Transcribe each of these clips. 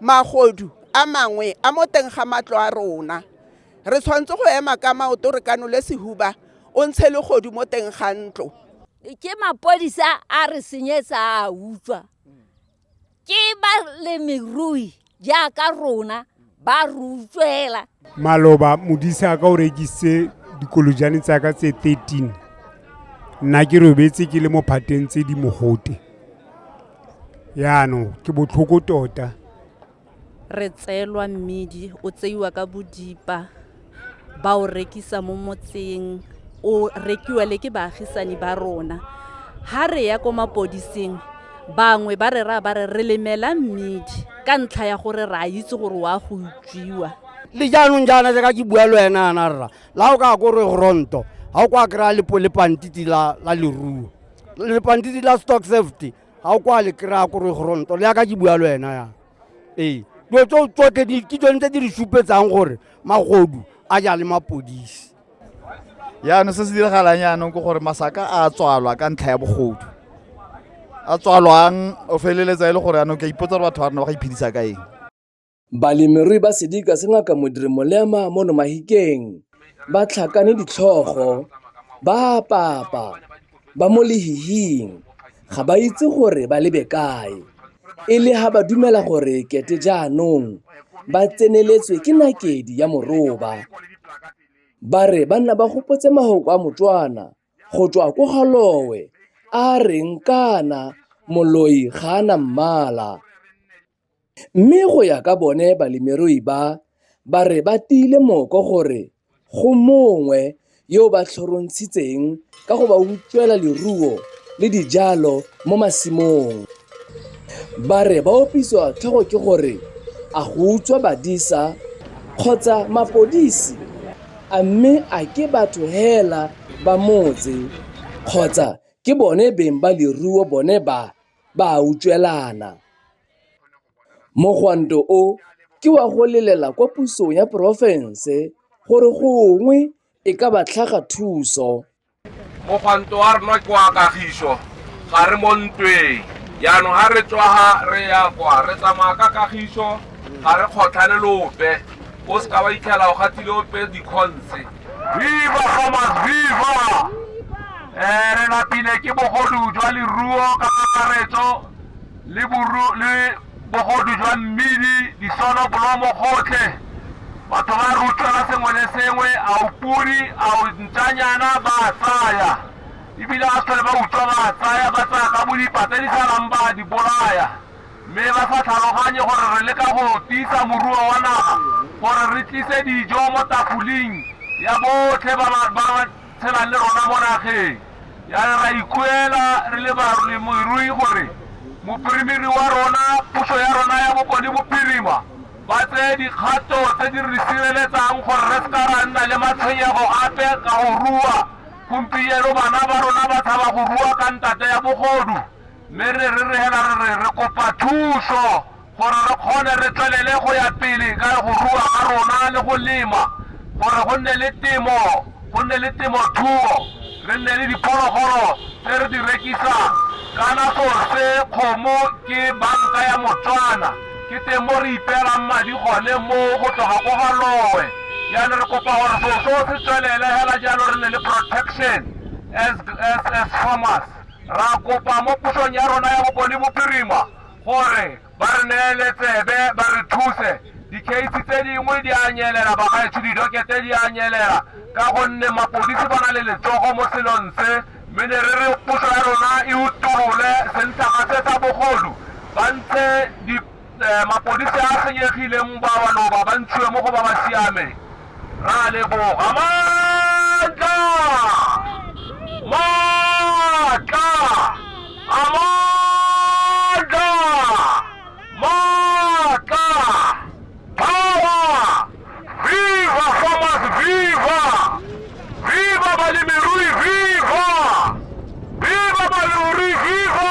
Magodu a mangwe a mo teng ga matlo a rona. Re tshwanetse go ema ka maoto re kanole sehuba o ntshe legodu mo teng ga ntlo. Ke mapodisa a re senyetsa a utswa. Ke balemirui jaaka rona ba re utswela. maloba modisa a ka o rekisitse dikolojane tsa ka tse 13 nna ke robetse ke le mo phateng tse di mogote yaanong ke botlhoko tota re tseelwa mmidi o tseiwa ka bodipa ba o rekisa mo motseng o rekiwa le ke baagisani ba rona ha re ya ko mapodising bangwe ba re ra ba re re lemela mmidi ka ntlha ya gore re a itse gore wa go tswiwa le jaanong jaana jaaka ke bua le wena yana rra la o ka ko re gronto ga o kwa kry-a lepantiti la leruo lepantiti la stock safety ga o kwa le kry-a ko re gronto le yaka ke bua le wena yana ee dilo tso tsotlhe ke tsone tse di re supetsang gore magodu a ja le mapodisi yaanong se se diragalang yaanong ke gore masaka a tswalwa ka ntlha ya bogodu a tswalwang o feleletsa e le gore yaanong ke a ipotsa gore batho ba rona ba ga iphedisa ka eng Balemirui ba sedika se ngaka Modiri Molema mo Nomahikeng ba tlhakane ditlhogo, ba papa, ba mo lehihing, ga ba itse gore ba lebe kae. E le ha ba dumela gore kete jaanong ba tseneletswe ke nakedi ya moroba. Ba re ba nna ba gopotse mahoko a Motswana go tswa ko galowe a reng kana moloi ga a na mmala. Mme go ya ka bone balemirui ba, ba re ba tiile mooko gore go mongwe yo o ba tlhorontshitseng ka go ba utswela leruo le dijalo mo masimong. Ba re ba opisiwa tlhogo ke gore a go utswa badisa kgotsa mapodisi a mme a ke batho hela ba motse kgotsa ke bone beng ba leruo bone ba ba a utswelana. Mogwanto o ke wa go lelela kwa pusong ya porofense gore gongwe e ka ba tlhaga thuso. Mogwanto wa rona ke wa kagiso, ga re mo ntweng. Jaanong ga re tswa ga re ya kwa, re tsamaya ka kagiso, ga re kgotlhane le ope. O se ka wa itlhela o gatile ope dikgontse. viva somas viva um re lapile ke bogodu jwa leruo ka kakaretso le boru- le bogodu jwa mmidi disono bolomo gotlhe batho ba re utlwela sengwe le sengwe a o pudi a o ntšanyana ba a tsaya ebile a sele ba utswa ba a tsaya ba tsaya ka bodipata di salang ba a di bolaya mme ba sa tlhaloganye gore re leka go tiisa moruo wa naga gore re tlise dijo mo tafoling ya botlhe ba ba ba ba tshelang le rona mo nageng ya re ra ikuela re le balemirui gore mopirimiri wa rona puso ya rona ya bokone bophirima ba tseye dikgato tse di re sireletsang gore re seka ra nna le matshwenyego ape ka go rua gompieno bana ba rona ba tshaba go rua ka ntate ya bogodu Mme re rerehela re re re kopa thuso gore re kgone re tswelele go ya pele ka go rua ga rona le go lema gore go nne le temo, go nne le temothuo, re nne le diphologolo tse re di rekisang. Kana sorse, kgomo, ke banka ya Motswana. Ke teng mo re ipeelang madi gone mo go tloga ko ga loe. Jaanong re kopa gore selo seo se tswelele hela jalo re nne le protection as, as, as farmers. Ra kopa mo pusong ya rona ya Bokone Bophirima gore ba re neele tsebe ba re thuse. Dikeisi tse dingwe di a nyelela bagaetsho, didokete di a nyelela ka gonne mapodisi ba na le letsogo mo selong se. Mme ne re re puso ya rona e utolole sentlhaga se sa bogodu ba ntshe di Mapodisi a a senyegileng ba maloba ba ntshiwe mo go ba ba siameng. Ra leboga. Maatla! Maatla! A maatla! Maatla! Power! Viva farmers! Viva! Viva balemirui! Viva! Viva balemirui! Viva!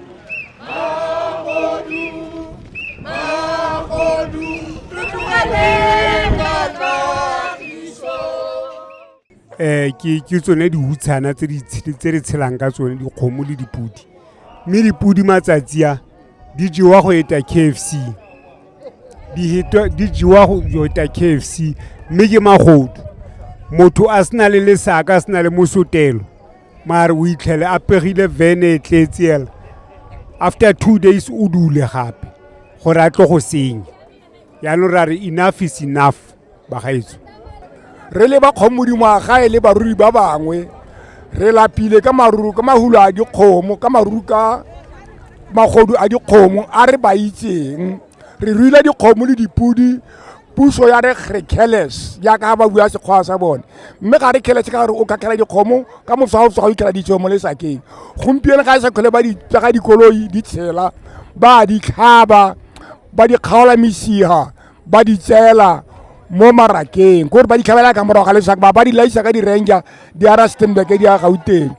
um ke tsone diutshana tse re tshelang ka tsone dikgomo le dipodi mme dipodi matsatsi a di jewa go eta k f c di jewa go eta k f c mme ke magodu motho a se na le lesaka a se na le mosotelo mare o itlhele a pegile vene e tletse ela after two days o dule gape gore a tlo go senya yaanong ra re enough is enough bagaetso re le ba kgomodimo a gae le baruri ba bangwe re lapile ka maruru ka mahulo a dikgomo ka maruru ka magodu a dikgomo a re ba itseng re ruile dikgomo le dipodi puso ya re re careless jaaka ba bua sekgwa sa bone mme ga re careless ka gore o kakela dikgomo ka moswa o sa go ikela ditso mo lesakeng gompieno ga e sa kgole ba di tsaga dikoloi di tshela ba di tlhaba ba di kgaola mesiga ba di tsela mo marakeng gore ba di tlhabela ka morago ga lesaka ba ba di laisa ka di-ranger di ara stenbeke di ya gauteng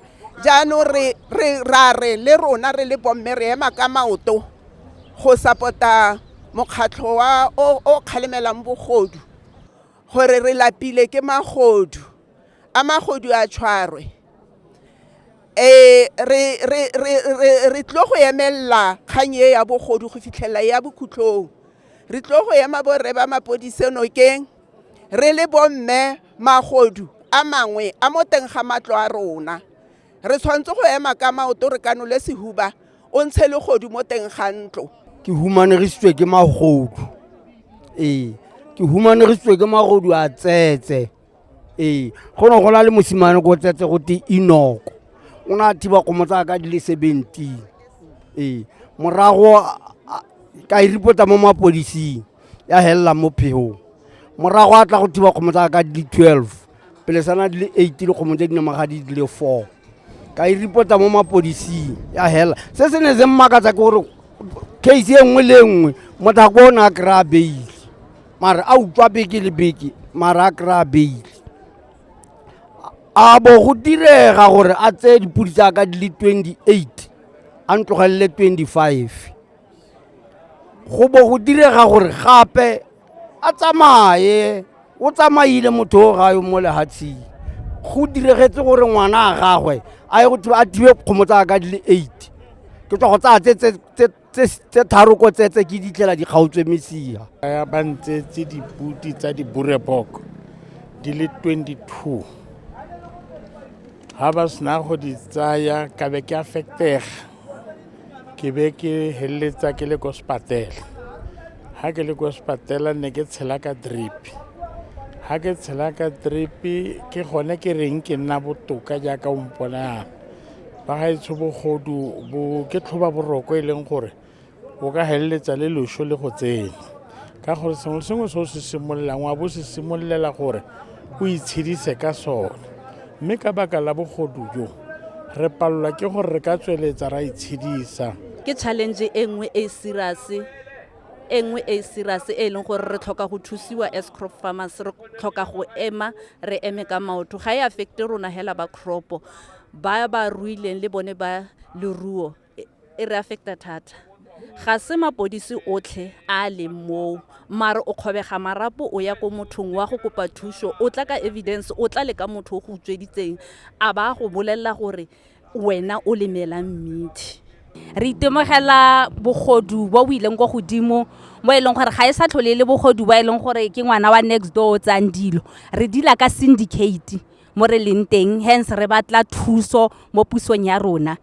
jaanong re re ra re le rona re le bomme re ema ka maoto go sapota mokgatlho wa o o kgalemelang bogodu gore re lapile ke magodu a magodu a tshwarwe um re re re re re tlo go emelela kgang e ya bogodu go fitlhelela ya bokhutlhong re tlo go ema borre ba mapodise nokeng re le bomme magodu a mangwe a mo teng ga matlo a rona re tshwanetse go ema ka maoto re kanole sehuba o ntshe legodu mo teng ga ntlo ke humanegisitswe ke magodu ee ke humanegisitswe ke magodu a tsetse ee go ne go na le mosimane ko tsetse go te inoko o ne a thiba kgomo tsa ka di le seventeen ee morago ka e ripota mo mapodising ya felelang mo phegong morago a tla go thiba kgomo tsa ka di le twelve pele sana di le eight le kgomo tse dinamaga di le four ka e reporta mo mapodising ya fela se se ne se mmakatsa ke gore case e nngwe le nngwe motho a ko o ne a kry-a beile mare a utlwa beke le beke mare a kry-a beile a bo go direga gore a tseye dipodi tsa ka di le twenty eight a ntlogelele twenty five go bo go direga gore gape a tsamaye o tsamaile motho o gayo mo lehatsheng go diregetse gore ngwana a gagwe a ye go thiba a thibe kgomo tsa ka di le eight ke tswa go tsaya tse- tse- tse- tse- tse tharo ko tsetse ke ditlela di kgaotswe mesia ya ba ntsetse diputi tsa dibureboko di le 22 ga ba sena go di tsaya ka be ke a fetega ke be ke heleletsa ke le ko sepatela ha ke le ko sepatela ne ke tshela ka drip ha ke tshela ka drip ke gone ke reng ke nna botoka jaaka o mpona yana ba ga etsho bogodu bo ke tlhoba boroko e leng gore o ka heleletsa le loso le go tsena ka gore sengwe sengwe se o se simololang wa bo se simololela gore o itshedise ka sone mme ka baka la bogodu jo re palelwa ke gore re ka tsweletsa ra itshedisa ke challenge e nngwe e serious e nngwe e serious e leng gore re tlhoka go thusiwa as crop farmers re tlhoka go ema re eme ka maoto ga e affecte rona hela ba cropo ba ba ruileng le bone ba leruo e re affecta thata ga se mapodisi otlhe a a leng moo mare o kgobega marapo o ya ko mothong wa go kopa thuso o tla ka evidence o tla le ka motho o go utsweditseng a ba go bolelela gore wena o lemelang mmidi re itemogela bogodu bo bo ileng kwa godimo mo e leng gore ga e sa tlhole e le bogodu bo e leng gore ke ngwana wa next door o tsang dilo re dila ka syndicate mo re leng teng hence re batla thuso mo pusong ya rona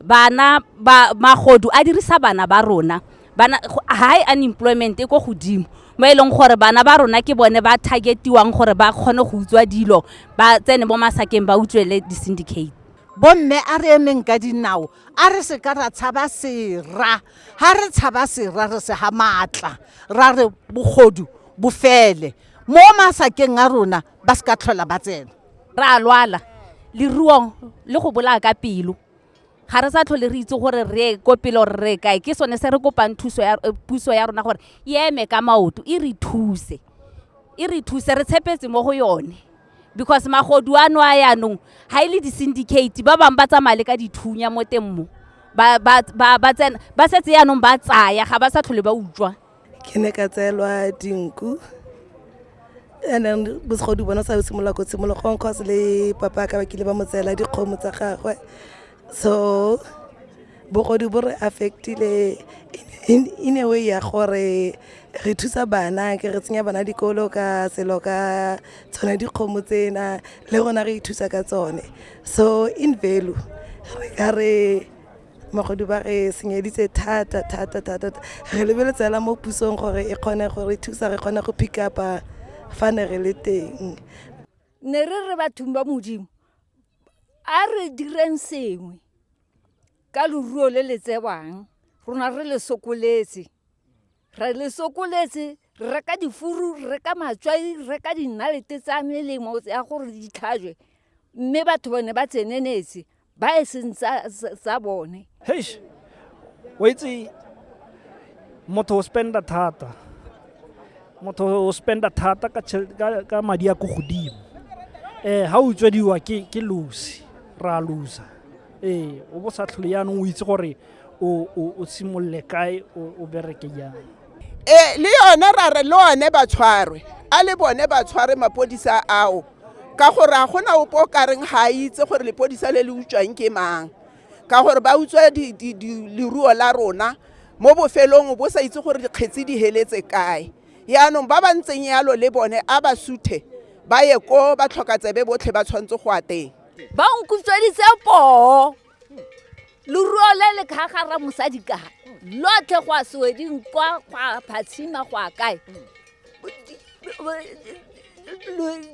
bana ba magodu a dirisa bana ba rona bana high unemployment e ko godimo mo e leng gore bana ba rona ke bone ba targetiwang gore ba kgone go utswa dilo ba tsene mo masakeng ba utswele di-syndicate bomme a re emeng ka dinao a re se ka ra tshaba sera ga re tshaba sera re se ga maatla ra re bogodu bofele mo masakeng a rona ba se ka tlhola ba tsena re a lwala leruong le go bolaya ka pelo ga re sa tlhole re itse gore re ko pele gore re kae ke sone se re kopang thuso ya eh, puso ya rona gore e eme ka maoto e re thuse e re thuse re tshepetse mo go yone because magodu ano a yaanong ga e le di-syndicate ba bangwe ba tsamaya le ka dithunya mo teng mo ba, ba, ba, ba, tsena, ba setse yaanong ba tsaya ga ba sa tlhole ba utlwa ke ne ka tseelwa dinku and then bosgodi bona sa simolola ko tshimologong cause le papa ka ba kile ba mo tseela dikgomo tsa gagwe so bogodi bo re affectile in a way ya gore re thusa bana ke re tsenya bana dikolo ka selo ka tsone dikgomo tsena le rona re ithusa ka tsone so in value re ka re magodu ba re senyeditse thata thata thata re lebeletse fela mo pusong gore e kgone gore thusa re kgone go pick up fa ne re le teng ne re re bathong ba modimo a re direng sengwe ka loruo le le tsewang rona re le sokoletse re le sokoletse re ka difuru re ka matswai re ka dinalete tsa melemo ya gore di tlhajwe mme batho bone ba tsenenetse ba e seng tsa bone heish o itse motho o spenda thata motho o spenda thata ka madi a ko godimo um ga o utswediwa ke losi ra losa ee o bo sa tlhole yaanong o itse gore o simolole kae o bereke jang e le yone ra re le one ba tshwarwe a le bone ba tshware mapodisa ao ka gore a gona opo o kareng ga a itse gore lepodisa le le utswang ke mang ka gore ba utswa leruo la rona mo bofelong bo sa itse gore dikgetsi di heletse kae yaanong ba ba ntseng yalo le bone a ba suthe ba ye ko ba tlhoka tsebe botlhe ba tshwanetse go a teng ba nkutsweditse poo loruo le le kgagara mosadi ka lotlhe go a sweding kwa go a phatshima go a kae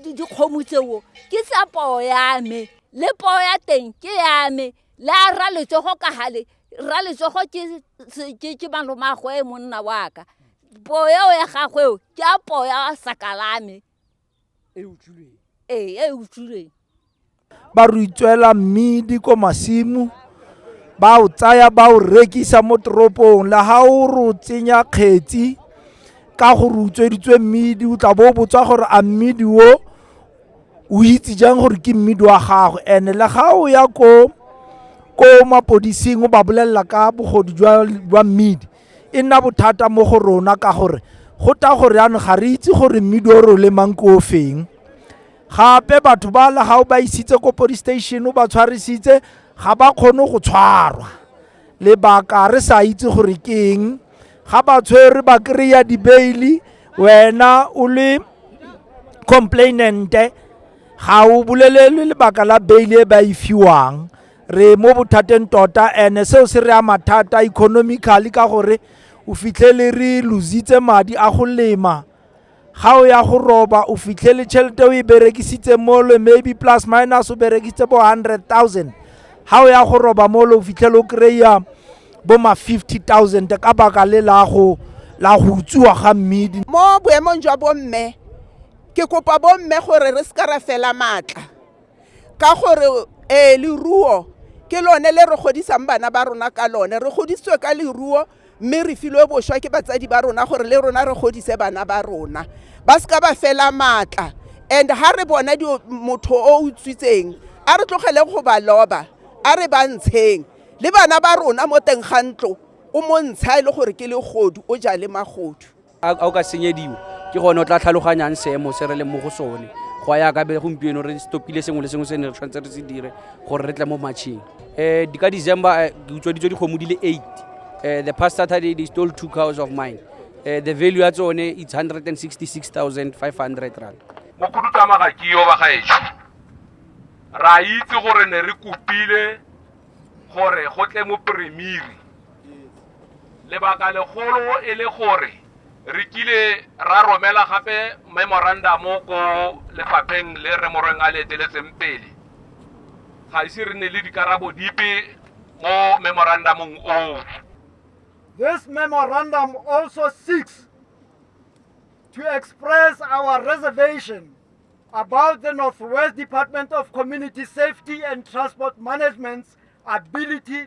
dikgomo tseo ke tsa poo ya me le poo ya teng ke ya me le a ra letsogo ka gale ra letsogo ke malomagwe monna wa ka poo eo ya gagweo ke a poo ya sakalame ee e utswilweng ba re itswela mmidi ko masimo ba o tsaya ba o rekisa mo toropong le ga o re o tsenya kgetsi ka gore utsweditswe mmidi o tla bo o botswa gore a mmidi o o itse jang gore ke mmidi wa gago and-e le ga o ya ko ko mapodising o ba bolelela ka bogodu jwa mmidi e nna bothata mo go rona ka gore go ta gore yanong ga re itse gore mmidi o re o lemang ko ofeng gape batho ba la ga o ba isitse ko police station o ba tshwarisitse ga ba kgone go tshwarwa lebaka re sa itse gore ke eng ga ba tshwere ba kry-a dibeili wena o le complainante ga o bolelelwe lebaka la beili e ba e fiwang re mo bothateng tota ene seo se re ama thata economically ka gore o fitlhele re lositse madi a go lema ga o ya go roba o fitlhele tšhelete o e berekisitse mole maybe plus minus o berekisitse bo hundred thousand ga o ya go roba mole o fitlhele o kry-a bo ma fifty thousand ka baka le la go la go utsiwa ga mmidi mo boemong jwa bomme ke kopa bomme gore re se ka ra fela maatla ka gore ee leruo ke lone le re godisang bana ba rona ka lone re godisitswe ka leruo mme re filwe boswa ke batsadi ba rona gore le rona re godise bana ba rona ba se ka ba fela maatla and ha re bona motho o utswitseng a re tlogele go ba loba a re ba ntsheng le bana ba rona mo teng ga ntlo o montsha e le gore ke legodu o ja le magodu a o ka senyediwa ke gone o tla tlhaloganyang seemo se re leng mo go sone go ya ka be gompieno re stopile sengwe le sengwe se ne re tshwanetse re se dire gore re tle mo matšheng um eh, di ka december eh, ke utswaditswe dikgomo di le eight um the past saturday they stole two cows of mine um the value ya tsone it's hundred and sixty six thousand five hundred rand mokhudutsamaga ke yo ba gaetsho ra itse gore ne re kopile gore go tle mo premiri lebaka legolo e le gore re kile ra romela gape memorandamo ko lefapheng le re morweng a le eteletseng pele ga ise re ne le dikarabo dipe mo memorandamong oo This memorandum also seeks to express our reservation about the Northwest Department of Community Safety and Transport Management's ability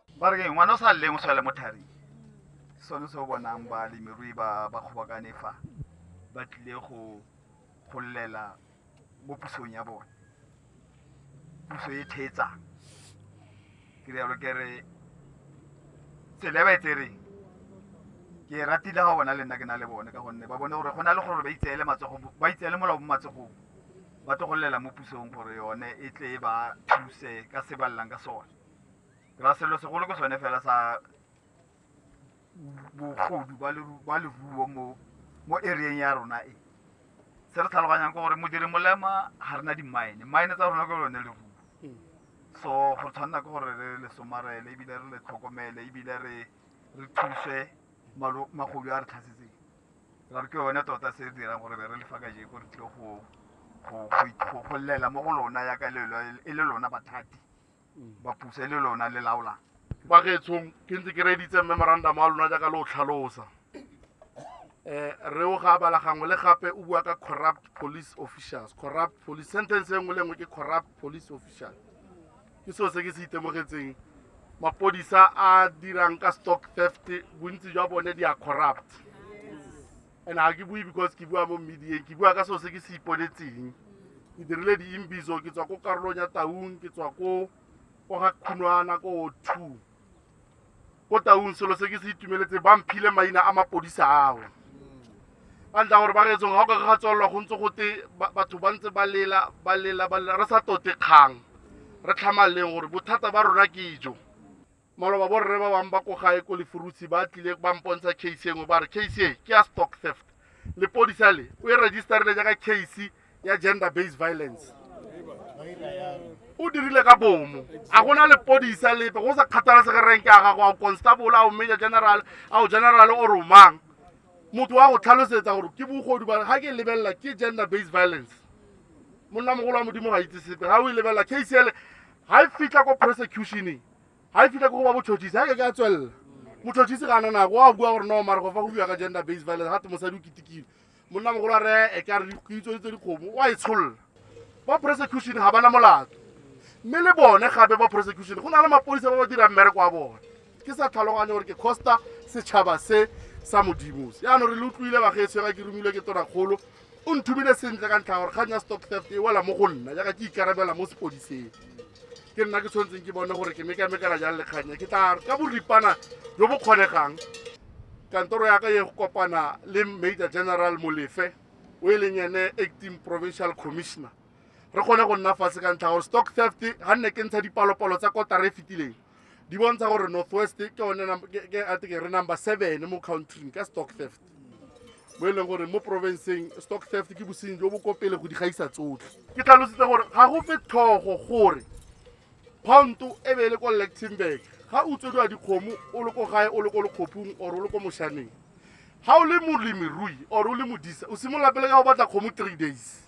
ba re ngwana o sa leng o tshwale mo tharing sone se o bonang balemirui ba ba kgobokane fa ba tlile go golela mo pusong ya bone puso e thetsa ke rialo ke re tsela e ba e tsereng ke e ratile ga bona le nna ke na le bone ka gonne ba bone gore go na le gore ba itseele matsogo ba itseele molao mo matsogong ba tlo golela mo pusong gore yone e tle e ba thuse ka se ba llang ka sone ra selo segolo ke sone fela sa bogodu ba leruo mo mo areeng ya rona e se re tlhaloganyang ke gore modiri molema ga re na di-mine mine tsa rona ke lone leruo hmm. so go tshwanela ke gore re le somarele ebile re le tlhokomele ebile re re thuse magodu a re tlhasetseng ra re ke yone tota se re dirang gore be re lefa kajeko re tlile go llela mo go lona yaka e le lona bathati ba puso e le lona le laolang ba gaetshong ke ntse ke reeditse memorandum wa lona jaaka le o tlhalosa um re o ga bala gangwe le gape o bua ka corrupt police officials corrupt police sentence e nngwe le nngwe ke corrupt police official ke seo se ke se itemogetseng mapodisa a dirang ka stock theft bontsi jwa bone di a corrupt and ga ke bue because ke bua mo mmediyeng ke bua ka seo se ke se iponetseng ke dirile diimbiso ke tswa ko karolong ya taung ke tswa ko ko ga khunwana ko two ko taung selo se ke se itumeletse ba mphile maina a mapodisa ao ka ntla gore ba reetsong ga o ka ga tswalelwa go ntse gote batho ba ntse ba lela ba lela ba lela re sa tote kgang re tlhamaleng gore bothata ba rona ke jo maloba borre ba bangwe ba ko gae ko lefurusi ba tlile ba mpontsha case engwe ba re case e ke ya stock theft lepodisa le o e registerile jaaka case ya gender based violence o dirile ka bomo a gona lepodisa lepe go sa kgathalesege renke a gago a o constable a o major general a o general o romang motho wa go tlhalosetsa gore ke bogodu ba ga ke lebelela ke gender based violence monna mogolo wa modimo ga itse sepe ga o e lebelela case ele ga e fitlha ko prosecutioneng ga e fitlha ko go ba botšhotšhisi ga ke ka tswelela motšhotšhisi ga ananako wa bua gore no mare go fa go bua ka gender based violence gate mosadi o ketekile monna mogolo a re e ka re dikitso tse dikgomo wa e tsholola ba prosecution ga bana molato mme le bone gape ba prosecution go na le mapodisa ba ba dirang mmereko wa bone ke sa tlhaloganye gore ke costa setšhaba se sa modimo se yaanong re le utlwile bagetshwega ke romilwe ke tonakgolo o nthumile sentle ka ntlha gore kgang ya stock theft e wela mo go nna jaaka ke ikarabela mo sepodiseng ke nna ke tshwanetseng ke bone gore ke mekamekela jang le kganya ke tla ka boripana jo bo kgonegang kantoro ya ka ye go kopana le major general molefe o e leng ene acting provincial commissioner re kgone go nna fatshe ka ntlha gore stock theft ga nne ke ntsha dipalopalo tsa kotara e fetileng di bontsha gore northwest ke one ke a teke re number seven mo countryng ka stock theft bo e leng gore mo porofenseng stock theft ke bosenyi jo bo ko pele go di gaisa tsotlhe ke tlhalositse gore ga go fe tlhogo gore pounto e be e le ko lectenburg ga o tswediwa dikgomo o le ko gae o le ko lekgopung or o le ko moshaneng ga o le molemirui or o le modisa o simolola pele ka go batla kgomo three days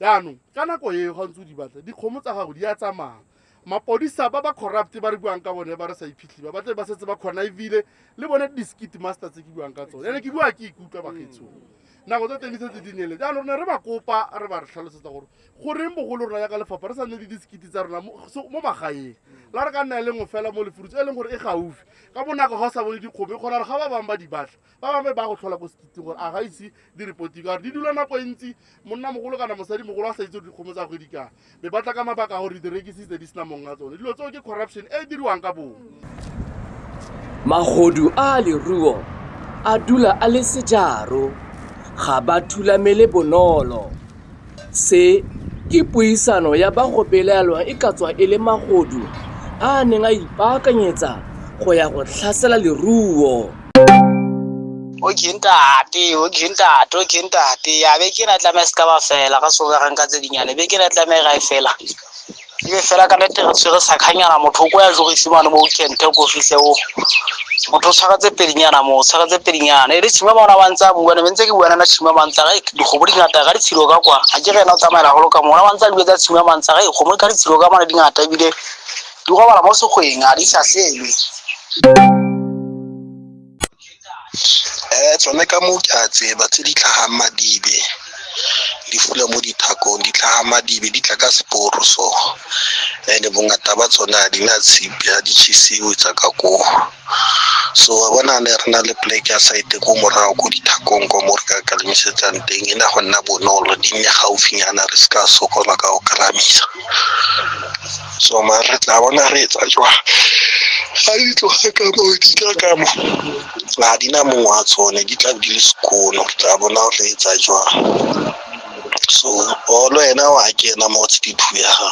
jaanong ka nako eo ga ntse o di batla dikgomo tsa gago di a tsamaya mapodisa ba ba corrupt ba re buang ka bone ba re sa iphitlhi ba batle ba setse ba kgona ebile le bone di-skit master tse ke buang ka tsone ene ke bua ke ikutlwa bagetso nako tsa teng di setse di nele jaanong ne re ba kopa re ba re tlhalosetsa gore goreng bogolo rona yaka lefapha re sa nne le di-skit tsa rona mo so- mo magaeng la re ka nna e le nngwe fela mo lefurutse e leng gore e gaufi ka bonako ga o sa bone dikgomo e kgona gore ga ba bangwe ba di batla ba bangwe ba go tlhola ko sekitseng gore a ga ise di-reporti ka gore di dula nako e ntsi monna mogolo kana mosadi mogolo a sa itse gore dikgomo tsa go di kana be ba tla ka mabaka gore di rekisitse di sena mong a tsone dilo tseo ke corruption e e diriwang ka bong magodu a leruo a dula a le sejaro ga ba thulamele bonolo Se ke puisano ya ba go belaelwa e ka tswa e le magodu a a neng a ipaakanyetsa go ya go tlhasela leruo. Okay ntate, okay ntate, okay ntate. Ya be ke na tlameha se ka ba fela, ga se go ka ga nka tse dinyane. Be ke na tlameha ga e fela. ebe fela ka nete re tshwere sakganyana motho o ko ya tlogo isimane mo kente ko fitlhe o motho o tshwaretse pedinyana moo o tshwaretse pedinyana e le tshima bona ba ntse a bua ne ntse ke bua nana tshima ba ntse re digobo di ngata ga ditshilo ka kwa ga ke rena o tsamaela golo ka mona ba ntse a dilo tsa tshima ba ntse re gomo ka ditshilo ka mona di ngata ebile di gobala mo segweng a di sa selwe Eh, tsone ka moo ke a tseba tse di tlhagang madibe di fula mo dithakong di tlhaga madibe di tla ka seporo so and bongata ba tsone a di na tshipi a di chisiwe tsa ka koo so wa bona ne re na le plek ya site ko morago ko dithakong ko mo re ka kalamisetsang teng e na go nna bonolo di nne gaufinyana re se ka sokola ka go kalamisa so ma re tla bona re etsa jwang ga di tloga ka moo di tla ka mo ga di na mongwe wa tsone di tla di le sekono re tla bona re etsa jwang so olo ena wa kena mo tshidiphu ya gago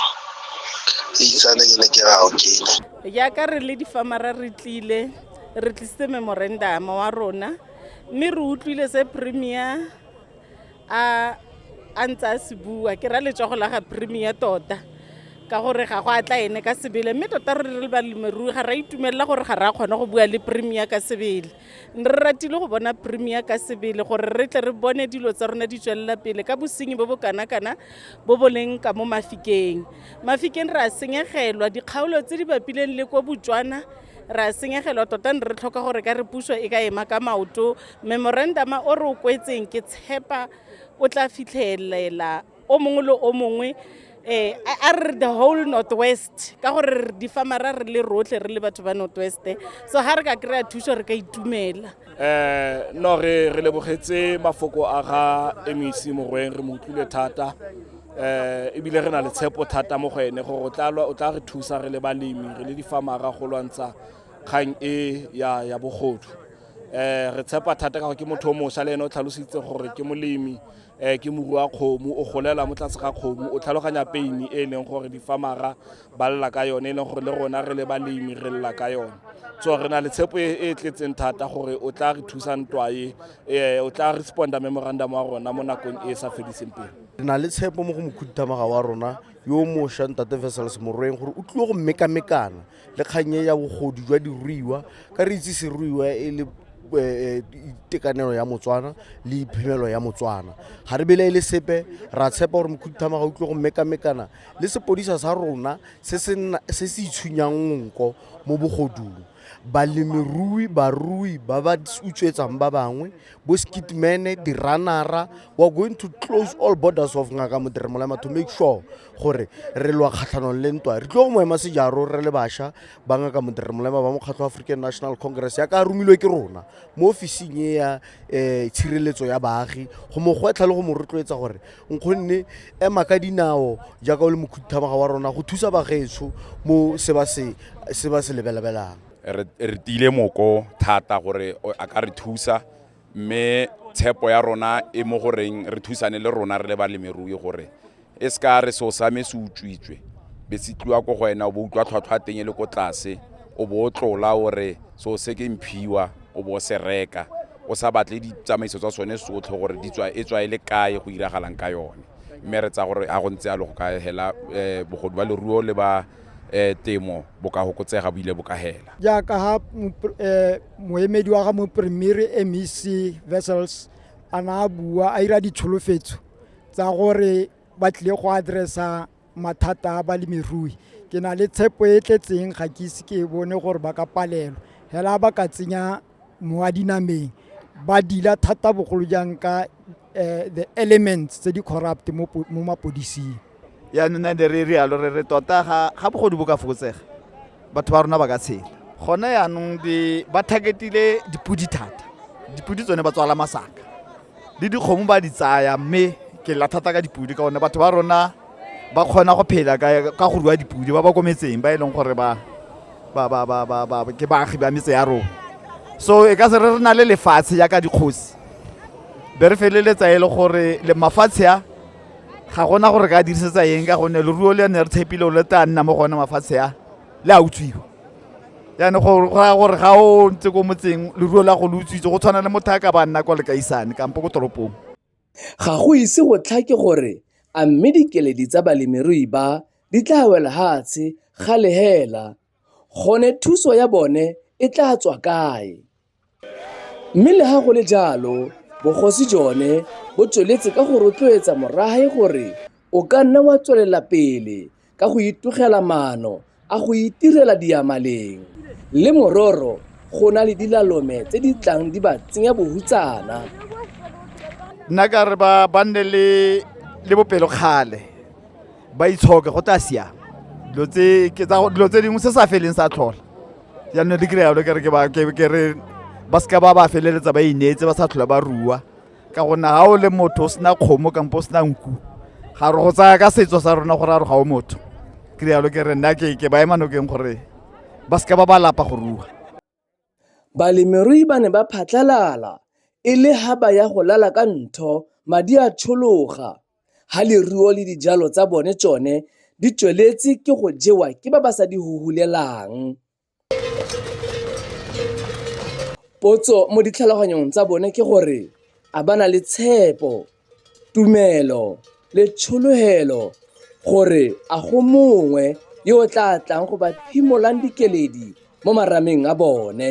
e itsane ke ne ke ra o kena jaaka re le difamara re tlile re tlisitse memorandama wa rona mme re utlwile se premier a a ntse a se bua ke ra letsogo la ga premier tota ka gore ga go atla ene ka sebele mme tota re re le balemirui ga ra itumelela gore ga ra kgona go bua le premier ka sebele ne re ratile go bona premier ka sebele gore re tle re bone dilo tsa rona di tswelela pele ka bosenyi bo bo kana-kana bo bo leng ka mo mafikeng mafikeng re a senyegelwa dikgaolo tse di bapileng le ko botswana re a senyegelwa tota ne re tlhoka gore ka re puso e ka ema ka maoto Memorandama o re o kwetseng ke tshepa o tla fitlhelela o mongwe le o mongwe eh a re the whole northwest ka gore di famara re le rotlhe re le batho ba northwest so ha re ka kry-a thuso re ka itumela um no re re lebogetse mafoko a ga mec morweng re mo utlwile thata um ebile re na le tshepo thata mo go ene gore o tla re thusa re le balemi re le difamara go lwantsha kgang e ya bogodu um re tshepa thata ka gore ke motho o mosa le ene o tlhalositse gore ke molemi um ke moru wa kgomo o golela mo tlase ga kgomo o tlhaloganya peini e e leng gore difamara ba lela ka yone e leng gore le rona re le balemi re lela ka yone so re na le tshepo e e tletseng thata gore o tla re thusa ntwae um o tla responda memorandum wa rona mo nakong e e sa fediseng pele re na le tshepo mo go mokhuduthamaga wa rona yo o mošwa ntate vesels morweng gore o tlile go mekamekana le kgang e ya bogodu jwa diruiwa ka re itse seruiwa e le eh, eh, itekanelo ya motswana le iphemelo ya motswana ga re bele e le sepe ra tshepa gore mokhuduthama ga o tlile go mekamekana le sepodisa sa rona se se nna- se se itshwenyang nko mo bogodung balemirui barui ba ba utswetsang ba bangwe bo skitmene diranara we are going to close all borders of ngaka moderemolama to make sure gore re lwa kgatlhanong le ntwa re tlo go mo ema sejaro re le bašwa ba ngaka modere molema ba mokgatlho wa african national congress ya ka romilwe ke rona mo ofising e ya um tshireletso ya baagi go mo gwetlha le go mo rotloetsa gore nkgonne ema ka dinao jaaka o le mokhuthamaga wa rona go thusa bagetso mo se ba se se ba se lebelabelang re re tile moko thata gore o- a ka re thusa mme tshepo ya rona e mo goreng re thusane le rona re le balemirui gore e se ka re seo sa me se utswitswe be se tliwa ko go wena o bo utlwa tlhwatlhwa teng e le ko tlase o bo o tlola o re seo se ke mphiwa o bo o se reka o sa batle ditsamaiso tsa sone sotlhe gore di tswa e tswa e le kae go iragalang ka yone mme re tsa gore a go ntse yalo go ka hela um bogodu ba leruo le ba um temo bo ka fokotsega bo ile bo ka hela jaaka ha moemedi wa ga mopremere mec vessels a na a bua a ira ditsholofetso tsa gore ba tlile go addressa mathata a balemirui ke na le tshepo e tletseng ga ke ise ke bone gore ba ka palelwa fela ba ka tsenya mo a dinameng ba dila thata bogolo jang ka uh, the elements tse di corrupt mo mapodising yaanong na ne re rialo re re tota ga bogodu bo ka fokotsega batho ba rona ba ka tshela gone yaanong ba targetile dipodi thata dipodi tsone ba tswala masaka le dikgomo ba di tsaya mme ke lla thata ka dipodi ka one batho ba rona ba kgona go phela ka go rua dipudi ba ba ko metseng ba e leng gore ba ke baagi ba metse ya rona so e ka se re re na le lefatshe jaaka dikgosi be re feleletsa e le gore le mafatshe a ga gona gore ka dirisetsa eng ka gonne leruo le ne re tshepile o le tla nna mo gone mafatshe a le a utswiwa jaanong go raya gore ga o ntse ko motseng leruo la go le utswitse go tshwana le motho a ka ba nna kwa lekaisane kampo ko toropong Ga go ise go tlhake gore a mme dikeledi tsa balemirui ba di tla wela hatshe ga le hela, gone thuso ya bone e tla tswa kae? Mme le ha go le jalo, Bogosi jone bo tsweletse ka go rotloetsa morahe gore o ka nna wa tswelela pele ka go itogela maano a go itirela diamaleng le mororo go na le dilalome tse di tlang di ba tsenya bohutsana nna ka re ba ba nne le le bopelokgale ba itshoke go tla siama dilo tse ke tsa dilo tse dingwe se sa feleng sa tlhola jaanong di kry-a jalo ke re ke ba ke ke re ba seka ba ba feleletsa ba ineetse ba sa tlhola ba rua ka gonne ga o le motho o sena kgomo kampo o sena nku ga re go tsaya ka setso sa rona gore a re ga o motho ke rialo ke re nna ke ke ba ema nokeng gore ba seka ba ba lapa go rua Balemirui ba ne ba phatlalala e le ha ba ya go lala ka ntho madi a tshologa ha leruo le dijalo tsa bone tsone di tsweletse ke go jewa ke ba ba sa di huhulelang. Potso mo ditlhaloganyong tsa bone ke gore a ba na le tshepo, tumelo le tshologelo gore a go mongwe yo o tla tlang go ba phimolang dikeledi mo marameng a bone.